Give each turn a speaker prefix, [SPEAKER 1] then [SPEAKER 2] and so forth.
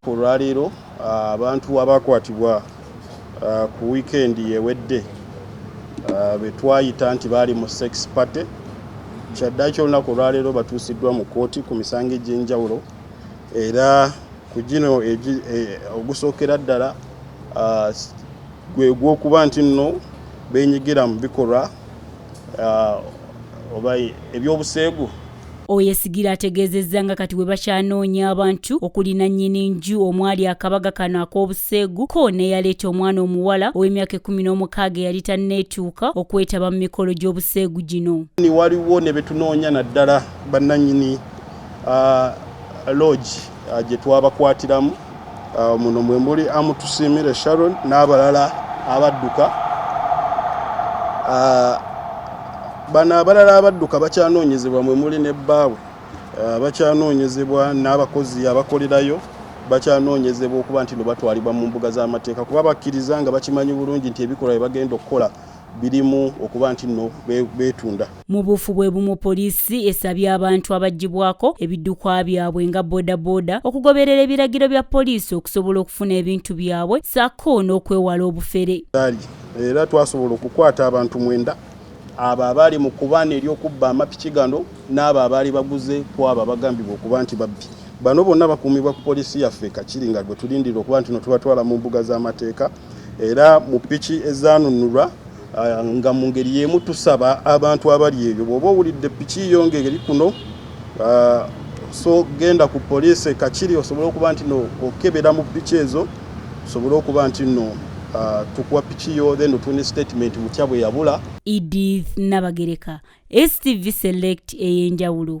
[SPEAKER 1] Olwaleero
[SPEAKER 2] abantu abaakwatibwa ku wiikendi ewedde be twayita nti baali mu sex party kyaddaaki olunaku olwaleero batuusiddwa mu kkooti ku misango egy'enjawulo era ku gino ogusookera ddala gwe gw'okuba nti nno beenyigira mu bikolwa oba eby'obuseegu Oyesigire
[SPEAKER 1] ategeezezza nga kati bwe bakyanoonya abantu okuli nannyini nju omwali akabaga kano ak'obuseegu ko n'eyaleeta omwana omuwala ow'emyaka ekkumi n'omukaaga eyali tanneetuuka okwetaba mu mikolo gy'obuseegu gino. Waliwo ne be
[SPEAKER 2] tunoonya naddala bannannyini loogi. ah, gye twabakwatiramu ah, muno mwe muli amutusiimire sharon n'abalala abadduka ah, bano abalala abadduka bakyanoonyezebwa mwe muli ne bbaawe bakyanoonyezebwa n'abakozi abakolerayo bakyanoonyezebwa okuba nti no batwalibwa mu mbuga z'amateeka kuba bakkiriza nga bakimanyi bulungi nti ebikolwa bye bagenda okukola birimu okuba nti no beetunda Mu buufu bwe bumu poliisi
[SPEAKER 1] esabye abantu abaggyibwako ebiddukwa byabwe nga bodaboda okugoberera ebiragiro bya poliisi okusobola okufuna ebintu byabwe ssaako n'okwewala obufere. Era
[SPEAKER 2] twasobola okukwata abantu mwenda abo abaali mu kubaana ery'okubba amapiki gano n'abo abaali baguze ku abo abagambibwa okuba nti babbi. Bano bonna bakuumibwa ku poliisi yaffe e Kakiri nga gwe tulindira okuba nti no tubatwala mu mbuga z'amateeka era mu piki ezaanunulwa Ah, nga mu ngeri y'emu tusaba abantu abali ebyo bw'oba owulidde piki yo ng'eri kuno ah, so genda ku poliisi ekakiri osobole okuba nti no okebera mu piki ezo osobole okuba nti no ah, tukuwa piki yo then otuni statement mutya bwe yabula
[SPEAKER 1] edith nabagereka
[SPEAKER 2] stv
[SPEAKER 1] select ey'enjawulo